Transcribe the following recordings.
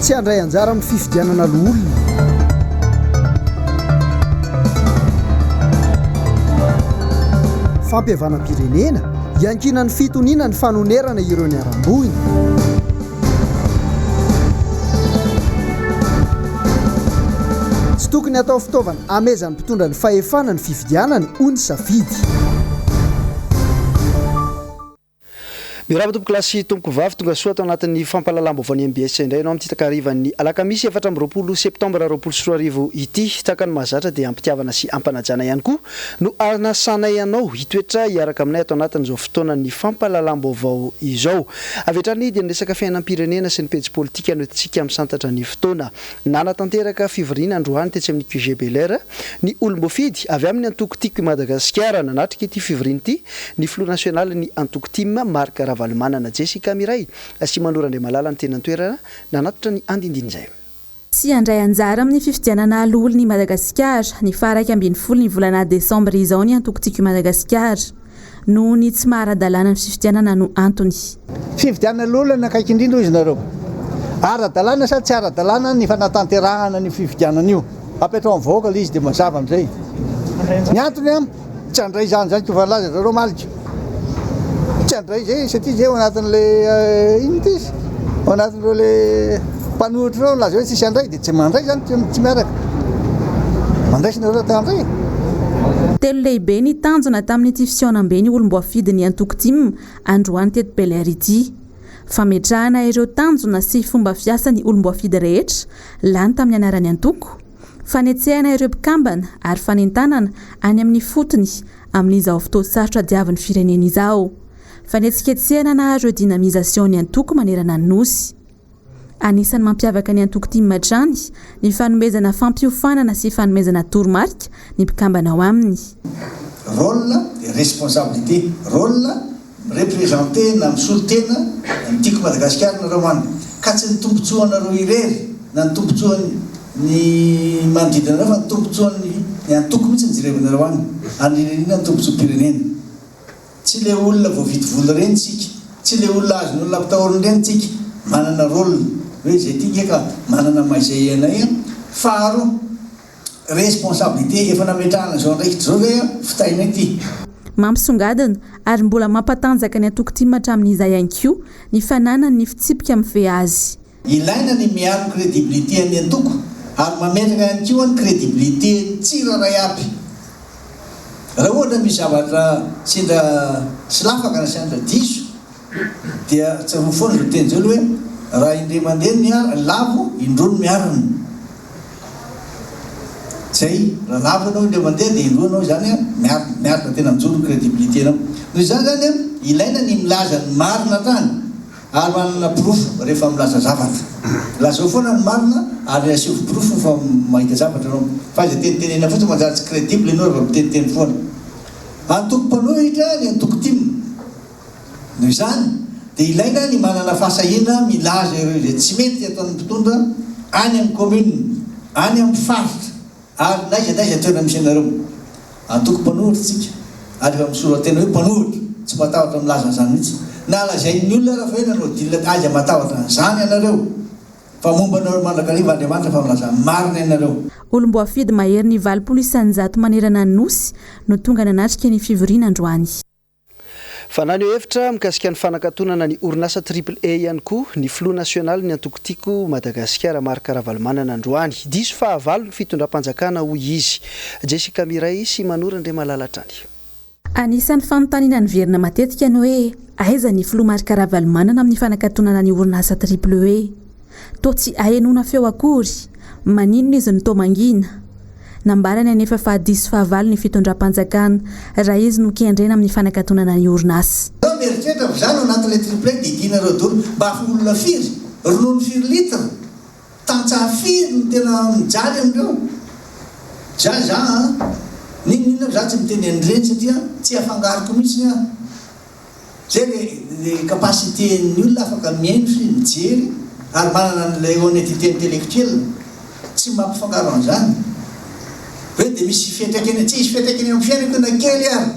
Tsy handray anjara amin'ny fifidianana loholona. Fampihavanam-pirenena, iankinan'ny fitoniana ny fanonerana ireo niharam-boina. Tsy tokony hatao fitaovana hamehezan'ny mpitondra ny fahefana ny fifidianana, hoy ny safidy. Mirava tompokolahy sy tompokovavy, tongasoa tao anatin'ny fampahalalam-baovaon'ny mbs indray ianao amin'ity takarivan'ny alakamisy efatra amby roapolo septambra roapolo sy roa arivo ity. Tahaka ny mahazatra dia ampitiavana sy ampanajana ihany koa no anasanay anao hitoetra hiaraka aminay ato anatin'izao fotoanan'ny fampahalalam-baovao izao. Avy hatrany dia ny resaka fiainam-pirenena sy ny pejy politika no tiantsika misantatra ny fotoana. Nanatanteraka fivoriana androany tetsy amin'ny QG Bel Air ny olom-boafidy avy amin'ny antoko Tiako i Madagasikara. Nanatrika ity fivoriana ity ny filoha nasionalin'ny antoko tim, Marc Ravalomanana. Jessica Mireille sy Mano Randriamalala no teny an-toerana nanatitra ny andinindin'izay. Tsy handray anjara amin'ny fifidianana ho loholon'i Madagasikara, ny faha iraika ambin'ny folo ny volana desambra izao ny antoko Tiako i Madagasikara. Noho ny tsy maha ara-dalàna ny fifidianana no antony. Fifidianana ny olana akaiky indrindra hoy izy nareo. Ara-dalàna sa tsy ara-dalàna ny fanatanterahana an'io fifidianana io? Apetraho amin'ny vahoaka ilay izy dia mazava amin'izay ny antony an! Tsy handray izany izany koa efa nilaza zareo omaly ka. Tsy handray izay satria izay ao anatin'ilay inona ity izy? Ao anatin'ireo ilay mpanohitra ireo nilaza hoe tsisy handray. Tsy mandray izany tsy miaraka. Mandray sy nareo te handray e. Telo lehibe ny tanjona tamin'ity fihaonambe ny olom-boafidy ny antoko tim androany teto Bel Air ity. Fametrahana ireo tanjona sy fomba fiasa ny olom-boafidy rehetra lany tamin'ny anaran'ny antoko, fanetsehana ireo mpikambana ary fanentanana any amin'ny fotony amin'izao fotoan-tsarotra diavin'ny firenena izao. Fanetsiketsehana na redynamisation ny antoko manerana ny Nosy. Anisan'ny mampiavaka ny antoko tim hatrany ny fanomezana fampiofanana sy fanomezana toromarika ny mpikambana ao aminy. Rôle et responsabilité, rôle, mi-representer na misolo tena ny Tiako Madagasikara nareo an! ka tsy ny tombotsoa anareo irery na ny tombotsoan'ny ny manodidina anareo fa ny tombotsoan'ny ny antoko mihitsy no jerevinareo an! Andrinirina ny tombotsoam-pirenena. Tsy le olona voavidy vola reny tsika, tsy le olona azon' olona ampitahoriny reny tsika, manana rôle hoe izay ty nge ka manana maha izay anay an! Faharoa, responsabilité efa nametrahana izao andraikitra izao ve an! fitainay ty. Mampisongadina, ary mbola mampatanjaka ny antoko tim hatramin' izay ihany koa, ny fananany ny fitsipika miveazy. Ilaina ny miaro crédibilité an'ny antoko ary mametraka ihany koa ny crédibilité tsirairay aby. Raha ohatra misy zavatra sendra tsy lafaka na sendra diso dia tsarovy foana izao teny izao le hoe raha indray mandeha ny ala lavo indroa no miarina. Zay, raha lavo ianao indray mandeha dia indroa ianao izany miarina, miarina tena mijoro ny crédibilité-nao. Noho izany izany ilaina ny milaza ny marina hatrany Ary manana porofo rehefa milaza zavatra. Lazao foana ny marina ary asio porofo fa mahita zavatra ianao. F'aiza tenitenena fotsiny manjary tsy credible ianao raha miteniteny foana. Antoko mpanohitra ny antoko tim. Noho izany dia ilaina ny manana fahasahiana milaza ireo izay tsy mety ataon'ny mpitondra any amin'ny commune, any amin'ny faritra. Ary n'aiza n'aiza toerana misy anareo, antoko mpanohitra tsika, ary efa misolo antena hoe mpanohitra, tsy matahotra milaza an'izany mihitsy, na lazain'ny olona ara fa hoe nanao deal aiza matahotra an'izany ianareo, fa momba anareo mandrakariva Andriamanitra fa milaza ny marina ianareo. Olom-boafidy maherin'ny valopolo isan-jato manerana ny Nosy no tonga nanatrika ny fivoriana androany. Fa naneho hevitra mikasika ny fanakatonana ny orinasa Triple A ihany koa ny filoha nasionalin'ny antoko Tiako Madagasikara, Marc Ravalomanana androany. Diso fahavalo ny fitondram-panjakana hoy izy. Jessica Mireille sy Manour Andriamalala hatrany. Anisan'ny fanontaniana niverina matetika ny hoe aiza ny filoha Marc Ravalomanana amin'ny fanakatonana ny orinasa Triple A. Toa tsy ahenoana feo akory. Maninona izy no toa mangina? Nambarany anefa fa diso fahavalo ny fitondram-panjakana raha izy no kendrena amin'ny fanakatonana ny orinasa. Izaho mieritreritra fa izaho no anatin'ilay triplet didianareo doro mba ho olona firy? Ronono firy litre? Tantsaha firy no tena mijaly amin'ireo? Zay izaho an! N'inon'inona ary izaho tsy miteny an'ireny satria tsy afangaroko mihitsy aho. Izay ny capacité ny olona afaka mihaino sy mijery ary manana an'ilay honnetité intellectuelle tsy mampifangaro an'izany hoe dia misy fiantraikany tsy hisy fiantraikany amin'ny fiainako io na kely ary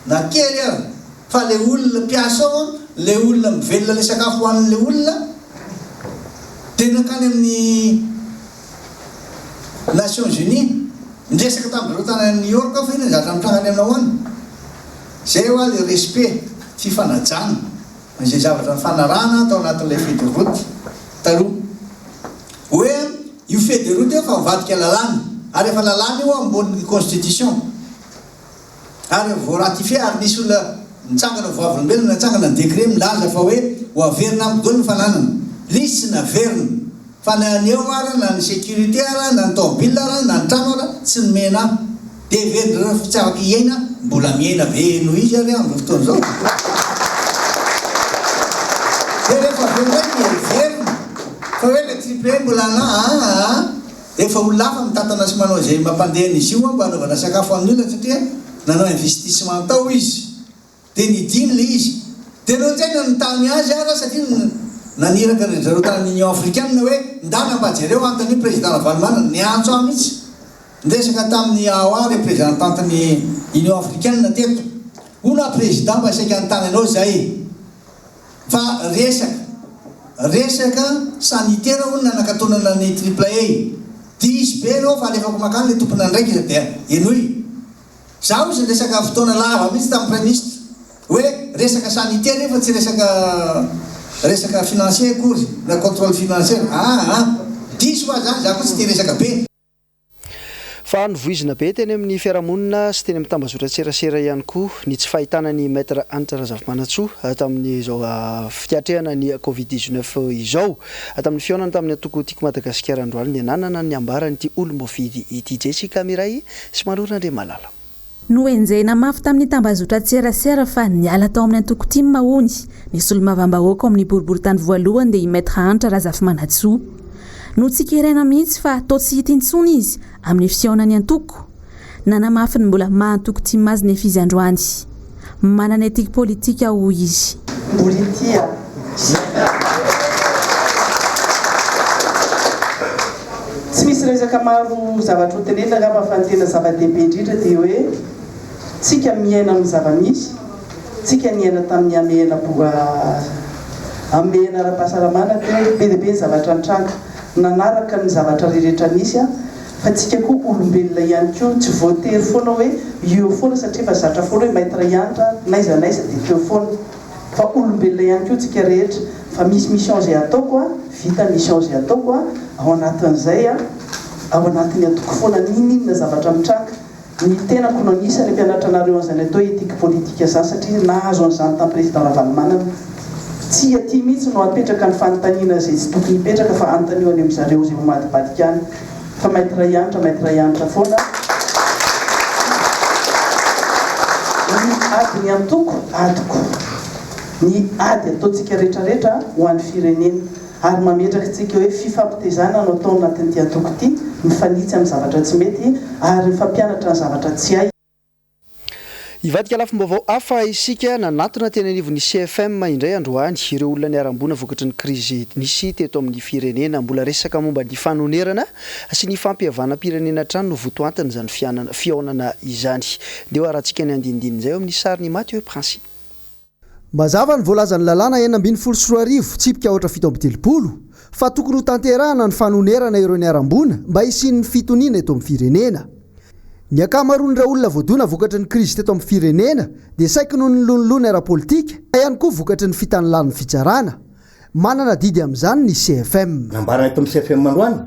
na kely ary fa ilay olona mpiasa ao ilay olona mivelona ilay sakafo hohanin'ilay olona dia nankany amin'ny Nations Unies niresaka tamin'ireo tanànan'i New York aho fa iny ny zatra nitranga any aminao any Izay hoa le respect, fifanajana, izay zavatra nifanarahana tao anatin'ilay feuille de route taloha. Hoe io feuille de route io efa mivadika lalàna, ary efa lalàna io ambonin'ny constitution, ary vao ratifier, ary nisy olona nitsangana, vavolombelona nitsangana ny décret milaza fa hoe ho averina amiko daholo ny fananana. L'izy tsy naverina, fa na ny eo ara, na ny sécurité ara, na ny taobile ara, na ny trano ara, tsy nomena ahy. Dia heveriny ireo fa tsy afaka hiaina mbola miaina ve noho izy ary amin'izao fotoana izao? Dia rehefa avy eo indray dia heveriny fa hoe ilay triple A mbola na aa efa olona hafa mitantana sy manao izay mampandeha an'izy io mba hanaovana sakafo ho an'ny olona satria nanao investissement tao izy. Dia nidina ilay izy. Dia ireo tena nitany azy ara satria naniraka an-dry zareo tany Union Africaine hoe, Ndana mba jereo antony io Président Ravalomanana niantso ahy mihitsy. Niresaka tamin'i Awa representantin'ny Union Africaine teto. Hono aho Président mba saika nitany anao izay fa resaka resaka sanitaire hono nanakatonana ny Triple A. Diso be ireo fa alefako mankany ilay tomponandraikitra dia henoy. Za ozy niresaka fotoana lava mihitsy tamin'ny Praiminisitra hoe resaka sanite anie fa tsy resaka resaka financier akory na controle financier ah ah. Diso hoa zany, za koa tsy tia resaka be. Fa novoizina be teny amin'ny fiarahamonina sy teny amin'ny tambazotran-tserasera ihany koa ny tsy fahitana an'i Maître Hanitra Razafimanantsoa tamin'izao fiatrehana ny Covid dix-neuf izao. Tamin'ny fihaonany tamin'ny antoko Tiako Madagasikara androany dia nanana ny ambara an'ity olom-boafidy ity. Jessica Miray Sy malory an ry Malala. Nohenjehina mafy tamin'ny tambazotran-tserasera fa niala tao amin'ny antoko tim hono ny solombavambahoaka ao amin'ny boriborintany voalohany dia i Maître Hanitra Razafimanantsoa. Notsikeraina mihitsy fa toa tsy hita intsony izy amin'ny fihaonan'ny antoko. Nanamafy ny mbola maha antoko tim azy nefa izy androany. Manana ethique politique aho hoy izy. Politia, Zina. Tsy misy resaka maro zavatra ho tenenina angamba fa ny tena zava-dehibe indrindra dia hoe tsika miaina amin'ny zava-misy, tsika niaina tamin'ny hamehana hamehana ara-pahasalamana teo, be dia be ny zavatra nitranga nanaraka ny zavatra rehetra nisy. Fa tsika koa olombelona ihany koa tsy voatery foana hoe eo foana satria efa zatra foana hoe Maître Yantra n'aiza n'aiza dia teo foana. Fa olombelona ihany koa tsika rehetra fa misy mission zay ataoko a, vita mission zay ataoko a, ao anatin'izay a, ao anatin'ny atoko foana n'inon'inona zavatra mitranga. Ny tenako no anisany mpianatra anareo an'izay natao ethique politique izany satria nahazo an'izany tamin'ny président Ravalomanana. Tsy aty mihitsy no apetraka ny fanontaniana izay tsy tokony hipetraka fa anontanio any amin'zareo izay homadibadika any. Fa maître Hanitra, maître Hanitra foana ny ady ny antoko, adiko. Ny ady ataontsika rehetra rehetra ho an'ny firenena. ary mametraka antsika hoe fifampitezana no atao anatin'ity antoko ity, mifanitsy amin'ny zavatra tsy mety ary mifampianatra ny zavatra tsy hay. Hivadika lafim-baovao hafa isika. Nanatona teny anivon'ny CFM indray androany ireo olona niharam-boina vokatry ny krizy nisy teto amin'ny firenena. Mbola resaka momba ny fanonerana sy ny fampihavanam-pirenena hatrany no votoantin'izany fihaonana izany. Ndeha hoharantsika ny andinindininy izay eo amin'ny sarin'i Mathieu Principe. Mazava ny voalazan'ny lalàna enina ambin'ny folo sy roa arivo, tsipika aotra fito amby telopolo, fa tokony ho tanterahana ny fanonerana ireo niharam-boina mba hisian'ny fitoniana eto amin'ny firenena. Ny ankamaroan'ireo olona voadona vokatry ny krizy teto amin'ny firenena dia saiky noho ny lonilony ara-politika, na ihany koa vokatry ny fitanilàn'ny fitsarana. Manana adidy amin'izany ny CFM. Nambarana eto amin'ny CFM androany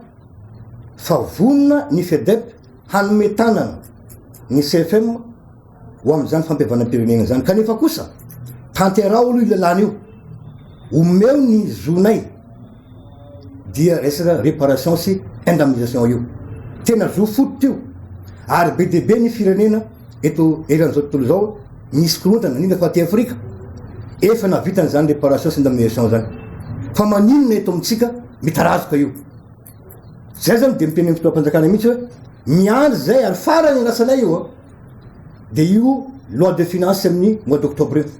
fa vonona ny Fedep hanome tanana ny CFM ho amin'izany fampihavanam-pirenena izany kanefa kosa tanteraho aloha io lalàna io, omeo ny zonay dia resaka réparation sy indemnisation io. Tena zo fototra io ary be dia be ny firenena. Eto eran'izao tontolo izao misy korontana, indrindra fa aty Afrika, efa nahavita an'izany réparation sy indemnisation izany. Fa maninona eto amintsika mitarazoka io? Izay izany dia mitenen'ny fitondram-panjakana mihitsy hoe miandry izay ary farany ny lasanay io dia io loi de finances amin'ny mois d'octobre io.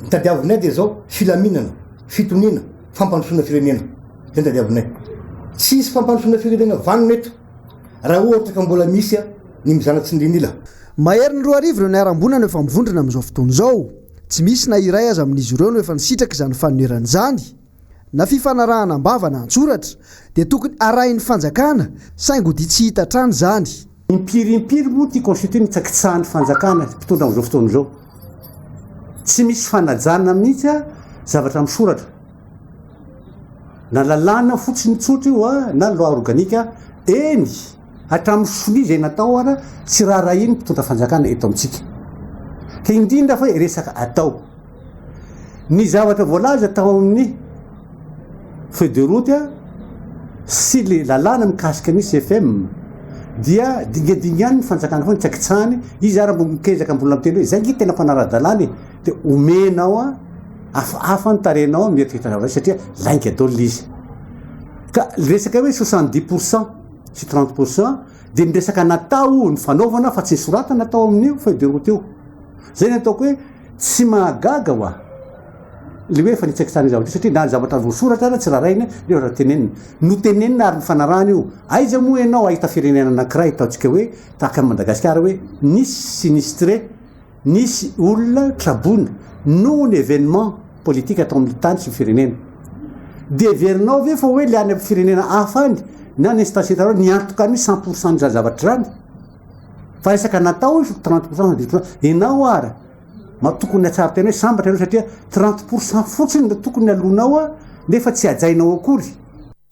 Ny tadiavinay dia izao filaminana, fitoniana, fampandrosoana firenena. Izay ny tadiavinay. Tsy hisy fampandrosoana firenena vanona eto. raha ohatra ka mbola misy ny mizana tsy nilinila. Maherin'ny roa arivo ireo niharam-boina no efa mivondrona amin'izao fotoana izao. Tsy misy na iray aza amin'izy ireo no efa nisitraka izany fanonerana izany. Na fifanarahana am-bava na an-tsoratra dia tokony harahin'ny fanjakana saingy ho dia tsy hita hatrany izany. Impiry impiry moa ity constitution hitsakitsahan'ny fanjakana sy mpitondra amin'izao fotoana izao. Tsy misy fanajana mihitsy zavatra misoratra. Na lalàna fotsiny tsotra io a, na loi organique a, eny, hatramin'ny sonia izay natao ara, tsy raharahian'ny mpitondra fanjakana eto amintsika. Ka indrindra fa resaka atao. Ny zavatra voalaza tao amin'ny feuille de route a, sy le lalàna mikasika ny CFM dia dingadingan'ny fanjakana foana, tsy akitsahany, izy ara mbo mikezaka mbola miteny hoe zay nge tena fanara-dalàna e! de omenao a hafahafa ny tarehinao amin'ny hetsika itanao satria lainga daholo ilay izy ka resaka hoe soixante dix pour cent sy trente pour cent de ny resaka natao ny fanaovana fa tsy soratana tao amin'io feuille de route io zay ny ataoko hoe tsy mahagaga wa le hoe efa nitsaikitsara ny zavatra satria na ny zavatra voasoratra ara tsy raharaina nefa raha tenenina no tenenina ary ny fanarahana io aiza moa ianao ahita firenena anankiray ataontsika hoe tahaka an'i madagasikara hoe nisy sinistre Nisy olona traboina noho ny evenement politika tao amin'ny tany sy ny firenena. Dia heverinao ve fa hoe le any amin'ny firenena hafa any na ny instancetareo niantoka an'io cent pour cent izany zavatra izany? Fa resaka natao io trente pour cent na dix pour cent. Ianao ary ma tokony hatsara tena hoe sambatra ianao satria trente pour cent fotsiny no tokony aloanao nefa tsy hajainao akory.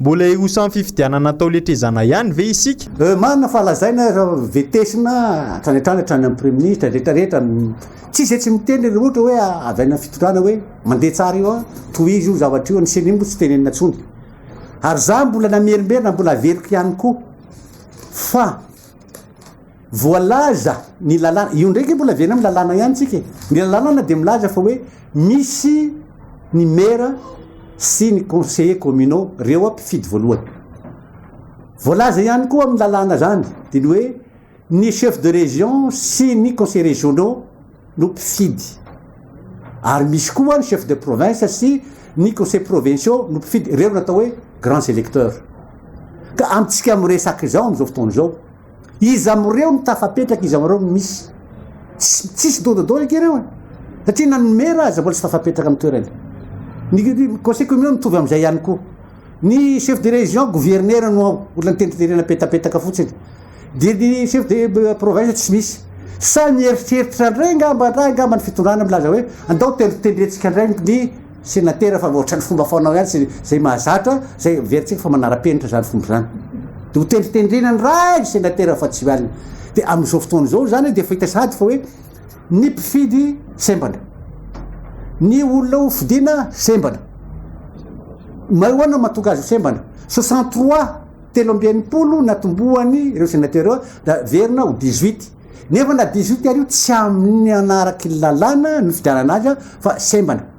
Mbola hiroso amin'ny fifidianana atao letrezana ihany ve isika? Marina fa lazaina fa vetesina hatrany hatrany hatrany amin'ny praiminisitra rehetra rehetra tsy izay tsy miteny raha ohatra hoe avy any amin'ny fitondrana hoe mandeha tsara io tohizo io zavatra io ny ceni moa tsy tenenina intsony ary za mbola namerimberina mbola averiko ihany koa fa Voalaza ny lalàna, io ndray nge mbola avy any amin'ny lalàna ihany tsika e! Ny lalànana dia milaza fa hoe misy ny maire sy ny conseillers communaux, reo a mpifidy voalohany. Voalaza ihany koa amin'ny lalàna zany dia ny hoe ny chef de région sy ny conseillers régionaux no mpifidy. Ary misy koa ny chef de province sy ny conseillers provinciaux no mpifidy, reo no atao hoe grands électeurs. Ka amintsika miresaka izao amin'izao fotoana izao, Iza amreo no tafapetraka iza amreo no misy? Tsisy don de don eky reo e! Satria na ny maire aza mbola tsy tafapetraka am toerany. Ny conseil communal mitovy amzay ihany koa. Ny chef de region, gouverneur no ao, olona nitendriterena petapetaka fotsiny. Dia ny chef de province tsy misy. Sa mieritreritra ndray ngamba ndra ngamba ny fitondrana milaza hoe andao tendritendrentsika ndray ny Senatera fa ohatrany fomba fanao ihany sy zay mahazatra zay heverintsika fa manarapenitra zany fomba zany de ho tendritendrena ny ray ny senatera fa tsy alina de amizao fotoana zao zany de efa hita sahady fa hoe ny mpifidy sembana ny olona ho fidiana sembana may hoana matonga azy ho sembana soixante trois telo amby enimpolo natombohany ireo senatera da verina ho dix huit Nefa na dia zioty ary io tsy amin ny hanaraka ny lalàna no figarana azy fa sembana.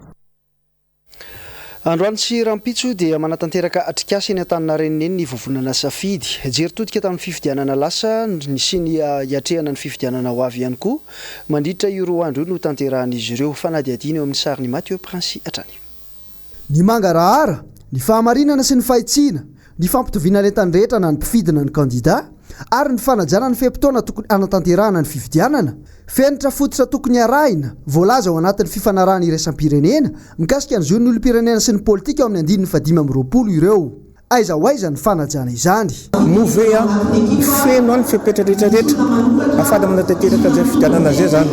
Androany sy rampitso dia manatanteraka atrikasa eny Antaninarenine ny vovonana safidy. Jery todika tamin'ny fifidianana lasa sy ny hiatrehana ny fifidianana ho avy ihany koa mandritra io roa andro io no tanterahan'izy ireo fanadihadiana eo amin'ny sarin'i Mathieu Prince hatrany. Ny mangarahara, ny fahamarinana sy ny fahitsiana, ny fampitoviana ny entany rehetra na ny mpifidy na ny kandida, ary ny fanajana ny fe-potoana tokony hanatanterahana ny fifidianana, fenitra fototra tokony harahina, voalaza ao anatin'ny fifanarahana iraisam-pirenena mikasika ny zon'ny olom-pirenena sy ny politika ao amin'ny andininy fahadimy amby roapolo ireo. Aiza ho aiza ny fanajana izany? Move a! Feno any fepetra rehetra rehetra afara manatanteraka zay fidianana zay zany.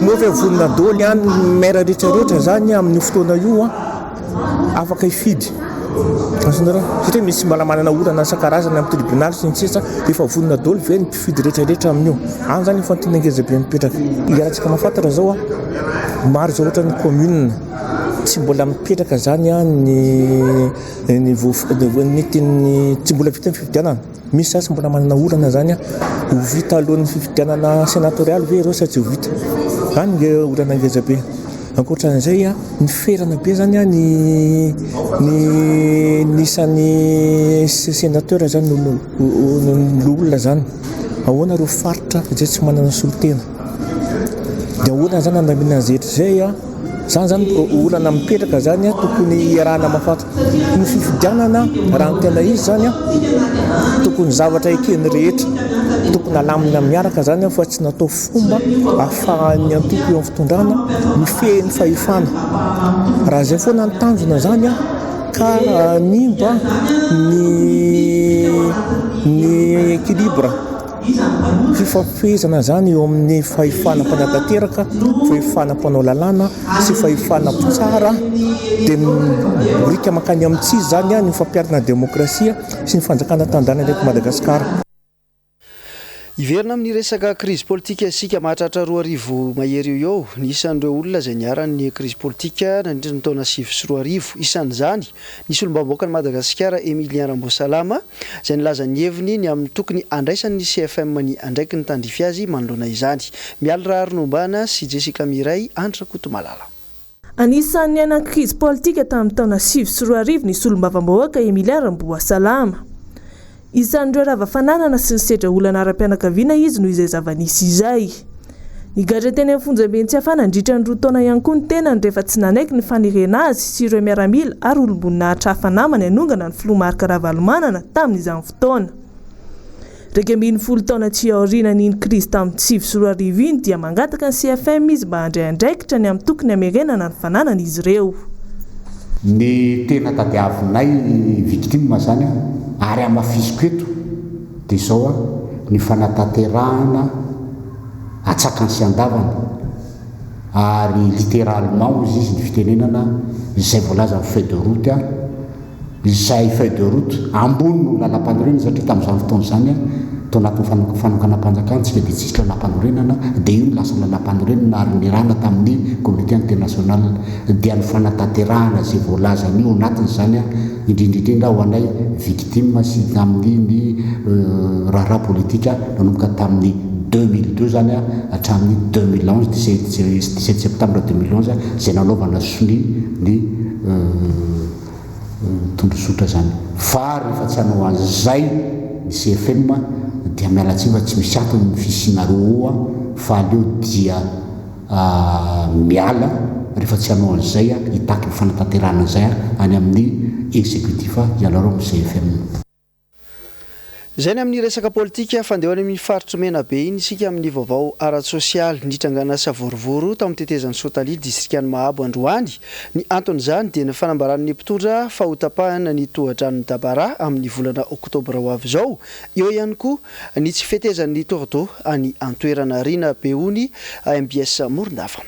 Move a! Vonona daholo ihany ny maire rehetra rehetra zany amin'io fotoana io a! Afaka hifidy. Azonareo? Satria misy mbola manana olana isan-karazany amin'ny tribunal sy ny sisa. Efa vonona daholo ve ny mpifidy rehetra rehetra amin'io? Any zany efa tena ngeza be mipetraka. Iarahantsika mahafantatra zao a! Maro zao ohatra ny commune tsy mbola mipetraka zany a! Ny. Ny voafidy ny tsy mbola vita ny fifidianana, misy za tsy mbola manana olana izany aho, ho vita alohan'ny fifidianana senatorialy ve ireo sa tsy ho vita? Izany no olana ngeza be. Ankoatran'izay a, ny ferana be izany a, ny ny ny isan'ny se- senateur izany no no loholona izany. Ahoana ireo faritra izay tsy manana solontena? Dia ahoana izany handamina an'izay hetra izay? Izany izany olana mipetraka izany tokony hiarahana mahafaty. Ny fifidianana raha ny tena izy izany tokony zavatra eken'ny rehetra, tokony halamina miaraka izany fa tsy natao fomba ahafahan'ny antoko eo amin'ny fitondrana mifehy ny fahefana. Raha izay foana ny tanjona izany ka hanimba ny ny équilibre. Fifampifehezana izany eo amin'ny fahefana mpanatanteraka, fahefana mpanao lalàna sy fahefana mpitsara dia midika mankany amin'ny tsy izy izany ny fampiharana ny demokrasia sy ny fanjakana tanindrazana eto Madagasikara. Hiverina amin'ny resaka krizy politika isika mahatratra roa arivo mahery eo eo ny isan'ireo olona izay niharan'ny krizy politika nandritra ny taona sivy sy roa arivo. Isan'izany ny solombavambahoakan'i Madagasikara Emilien Ramboasalama, izay nilaza ny heviny ny amin'ny tokony handraisan'ny CFM ny andraikiny tandrify azy manoloana izany. Mialy Raharinombaana sy Jessica Mireille Andry Rakotomalala. Anisan'ny niainan'ny krizy politika tamin'ny taona sivy sy roa arivo ny solombavambahoaka Emilia Ramboasalama. Isan'ireo rava fananana sy nisedra olana ara-pianakaviana izy noho izay zava-nisy izay. Nigadra teny amin'ny fonjaben'i Tsiafahy nandritra ny roa taona ihany koa ny tenany rehefa tsy nanaiky ny fanerena azy sy ireo miaramila ary olom-boninahitra hafa namany hanongana ny filoha Marc Ravalomanana tamin'izany fotoana. Iraika ambin'ny folo taona aty aoriana an'iny krizy tamin'ny sivy sy roa arivo iny dia mangataka ny CFM izy mba handray andraikitra ny amin'ny tokony hamerenana ny fananany izy ireo. Ny tena tadiavinay victime zany ary hamafisiko eto. Dia izao an, ny fanatanterahana atsakany sy andavany, ary littéralement hoy izy ny fitenenana, izay voalazan'ny feuille de route an, izay feuille de route ambony no lalam-panorenana satria tamin'izany fotoana izany an, tao anatin'ny fanokanam-panjakana tsika dia tsisy lalam-panorenana, dia io no lasa lalam-panorenana ary nirana tamin'ny comité international, dia ny fanatanterahana izay voalazan'io anatiny izany an, indrindra indrindra ho anay victimes sy tamin'ny ny raharaha politika nanomboka tamin'ny deux mille deux zany an hatramin'ny deux mille onze dix sept dix sept septembre deux mille onze izay nanaovana sonia ny tondrozotra zany fa rehefa tsy hanao an'izay ny CFM dia miala tsiny fa tsy misy antony ny fisianareo eo an fa aleo dia Aah miala rehefa tsy hanao an'izay aho, hitaky ny fanatanterahana an'izay aho any amin'ny executif aho, ianareo amin'ny CFM. Izay ny amin'ny resaka politika. Fa andeha ho any amin'iny faritr'i Menabe iny isika amin'ny vaovao ara-tsosialy. Nitrangana savorovoro tao amin'ny tetezan'i Sotalia, distrikan'i Mahabo androany. Ny anton'izany dia ny fanambaran'ny mpitondra fa hotapahina ny tohadranon'i Dabara amin'ny volana oktobra ho avy izao. Eo ihany koa Ny tsy fetezan'ny tourdeau any an-toerana. Rina Beony, mbs Morondava.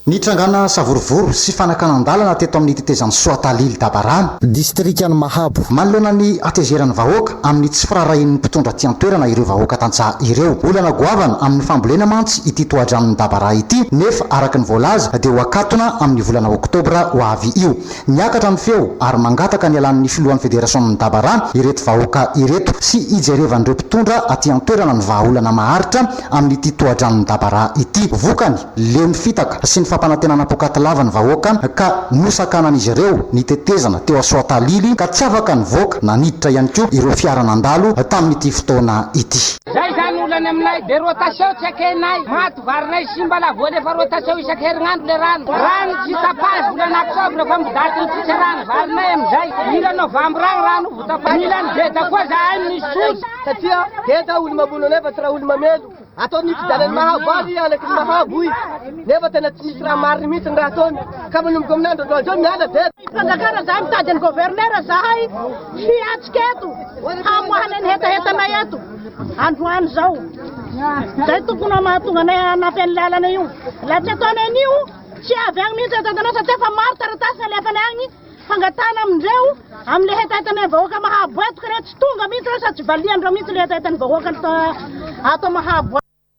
Nitrangana savorovoro sy fanakanan-dalana teto amin'ny tetezan'i Soatalily Dabarana, distrikan'i Mahabo, manoloana ny hatezeran'ny vahoaka amin'ny tsy firaharahian'ny mpitondra aty an-toerana ireo vahoaka tantsaha ireo. Olana goavana amin'ny fambolena mantsy ity tohadranon'i Dabaraha ity nefa araka ny voalaza dia ho akatona amin'ny volana oktobra ho avy io. Miakatra ny feo ary mangataka ny hialan'ny filohan'ny federasionin'ny daba rano ireto vahoaka ireto sy hijerevan'ireo mpitondra aty an-toerana ny vahaolana maharitra amin'ity tohadranon'ny daba ra ity. Vokany, leo ny fitaka sy ny fampanantenana poakaty lava ny vahoaka ka nosakanan'izy ireo ny tetezana teo Soatalily ka tsy afaka nivoaka na niditra ihany koa ireo fiara nandalo tamin'ity fotoana ity. Zay zany olany aminay, be rotation tsy ekenay, maty varinay simba la voa lefa rotation isaky herignandro le rano, rano tsy tapage volana octobre fa midaty ny fitsarana varinay amizay, mila novembre agny rano vo tapage, mila ny beda koa zahay misy soja. Satria heda olo mamono anay fa tsy raha olo mamelo, ataony io fijanany mahabo ary i anaky ny mahabo i, nefa tena tsy misy raha marigny mihitsy ny raha ataony, ka manomboka amin' andro androany zao miala beda. Fanjakana zahay mitady an'i gouverneur zahay hiatrika eto. Hamoahana ny hetahetanay eto androany izao. Izay tokony ho mahatonga anay hanampy an'ny lalana io. Raha tsy ataonay an'io, tsy avy agny mihitsy hetahetanay satria efa maro taratasy nalefanay agny fangatahana amindreo amin'ny hetahetanay vahoaka mahaboetoka ireo. Tsy tonga mihitsy ireo sady tsy valiandreo mihitsy ilay hetahetan'ny vahoaka ato Mahaboa.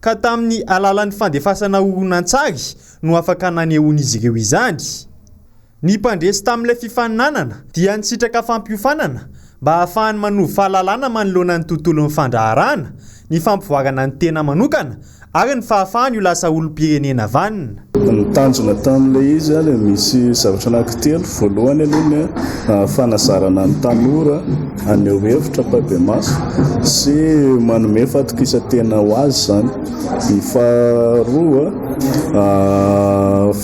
ka tamin'ny alalan'ny fandefasana horonantsary no afaka nanehoan'izy ireo izany. Ny mpandresy tamin'ilay fifaninanana dia nisitraka fampiofanana mba hahafahany manovo fahalalana manoloana ny tontolon'ny fandraharahana, ny fampivoarana ny tena manokana ary ny fahafahany ho lasa olom-pirenena vanona. Ny tanjona tamin'ilay izy dia misy zavatra anankitelo, voalohany aloha ny fanazarana ny tanora haneho hevitra am-pahibemaso sy manome fatokisantena ho azy izany, ny faharoa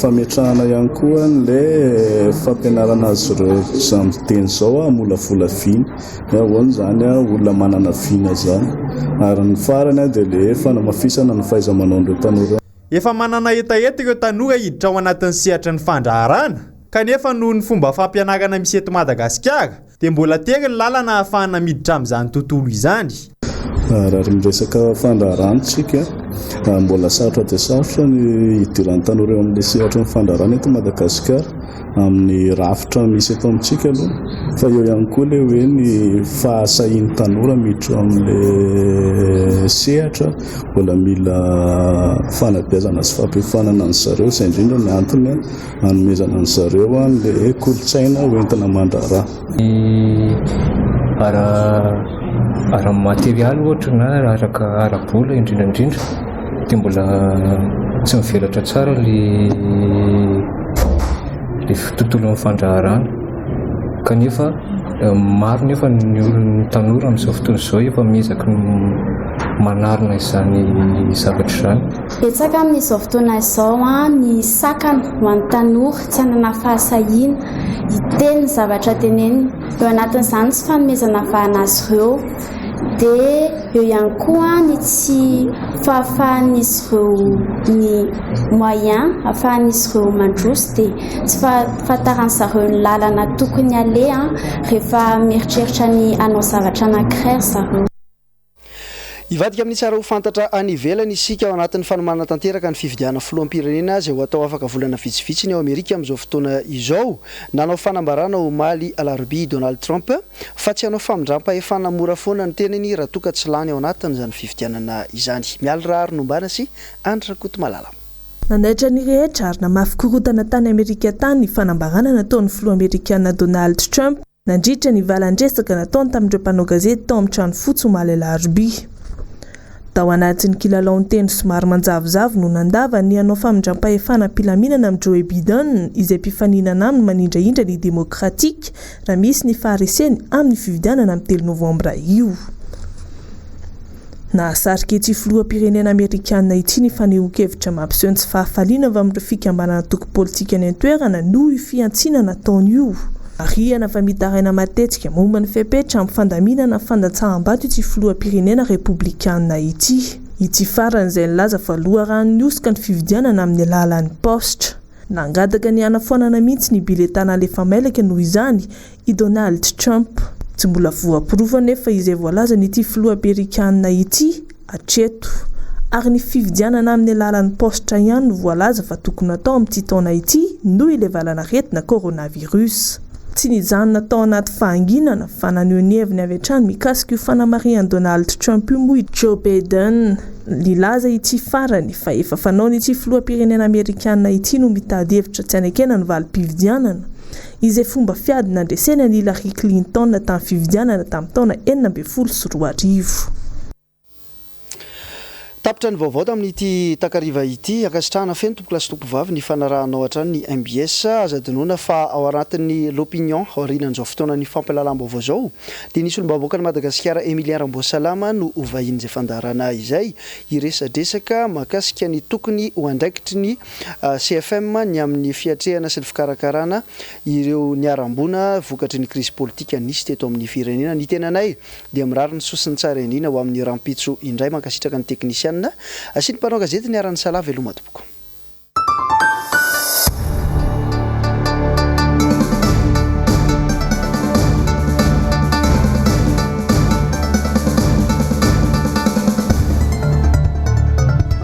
fametrahana ihany koa an'ilay fampianarana azy ireo izao amin'ny fiteny izao hamolavola vina hoe ahoana izany olona manana vina izany ary ny farany dia ilay fanamafisana ny fahaiza-manaon'ireo tanora ireo. Efa manana hetaheta ireo tanora hiditra ao anatin'ny sehatra ny fandraharahana, kanefa noho ny fomba fampianarana misy eto Madagasikara dia mbola tery ny lalana ahafahana miditra amin'izany tontolo izany. Raha miresaka fandraharahana isika, mbola sarotra dia sarotra ny hidiran'ny tanora eo amin'ny sehatry ny fandraharahana eto Madagasikara. amin'ny rafitra misy eto amintsika aloha fa eo ihany koa ilay hoe ny fahasahian'ny tanora miditra amin'ilay sehatra mbola mila fanabeazana sy fampiofanana an'i zareo izay indrindra ny antony hanomezana an'i zareo an'ilay kolontsaina hoentina mandraharaha Ny ara ara materialy ohatra na araka ara-bola indrindra indrindra dia mbola tsy mivelatra tsara ilay ilay tontolon'ny fandraharahana kanefa maro nefa ny olon'ny tanora amin'izao fotoana izao efa miezaka manarina izany zavatra izany. Betsaka amin'izao fotoana izao ny sakana ho an'ny tanora. tsy hanana fahasahiana hiteny ny zavatra teneniny eo anatin'izany tsy fanomezana vahana azy ireo dia eo ihany koa ny tsy fahafahan'izy ireo ny moyen afahan'izy ireo mandroso dia tsy fahafantaran'izy ireo ny lalana tokony aleha rehefa mieritreritra ny hanao zavatra anankiray ry zareo Hivadika amin'ny tsara ho fantatra any ivelany isika ao anatin'ny fanomanana tanteraka ny fifidianana filoham-pirenena izay ho atao afaka volana vitsivitsy ny ao Amerika amin'izao fotoana izao. Nanao fanambarana omaly alarobia i Donald Trump fa tsy hanao famindram-pahefana mora foana ny tenany raha toa ka tsy lany ao anatin'izany fifidianana izany. Mialy Raharianombana sy Andry Rakotomalala. Nanaitra ny rehetra ary namafy korontana tany Amerika tany ny fanambarana nataon'ny filoha amerikana Donald Trump nandritra ny valan-dresaka nataony tamin'ireo mpanao gazety tao amin'ny trano fotsy omaly alarobia. Tao anatin'ny kilalaon-teny somary manjavozavo no nandavany ny hanao famindram-pahefana am-pilaminana amin'i Joe Biden izay mpifaninana aminy manindrahindra ny Demokratika raha misy ny fahareseny amin'ny fifidianana amin'ny telo Novambra io. Nahasarika ity filoham-pirenena amerikana ity ny fanehoan-kevitra mampiseho ny tsy fahafaliana avy amin'ireo fikambanana antoko politika any an-toerana noho io fihantsiana nataony io. Marihana fa mitaraina matetika momba ny fepetra amin'ny fandaminana ny fandatsaham-bato ity filoham-pirenena repoblikana ity. Ity farany izay nilaza fa loharanon'ny hosoka ny fifidianana amin'ny alalan'ny paositra. Nangataka ny hanafoanana mihitsy ny biletà nalefa mailaka noho izany I Donald Trump, tsy mbola voaporofo anefa izay voalazan'ity filoha amerikanina ity hatreto, ary ny fifidianana amin'ny alalan'ny paositra ihany no voalaza fa tokony hatao amin'ity taona ity noho ilay valanaretina coronavirus. Tsy nijanona tao anaty fahanginana fa naneho ny heviny avy hatrany mikasika io fanamarihan'i Donald Trump io moa i Joe Biden, nilaza ity farany fa efa fanaony ity filoham-pirenena amerikanina ity no mitady hevitra tsy hanekena ny valim-pifidianana, izay fomba fiady nandreseny an'i Hillary Clinton tamin'ny fifidianana tamin'ny taona enina ambin'ny folo sy roa arivo. Tapitra ny vaovao tamin'ity takariva ity. Ankasitrahana feno tompokolahy sy tompovavy ny fanarahanao hatrany ny mbs. Aza adinoina fa ao anatin'ny L'Opinion aorianan'izao fotoanan'ny fampialalam-baovao izao dia ny solombavambahoakan'i Madagasikara Emilien Ramboasalama no ho vahinin'izay fandaharana izay hiresadresaka mahakasika ny tokony ho andraikitry ny CFM ny amin'ny fiatrehana sy ny fikarakarana ireo niharam-boina vokatry ny krizy politika nisy teto amin'ny firenena. Ny tenanay dia mirary ny soa sy ny tsara indrindra ho amin'ny rahampitso indray. Mankasitraka ny teknisianina sy ny mpanao gazety niara-nisalahy. Veloma tompoko.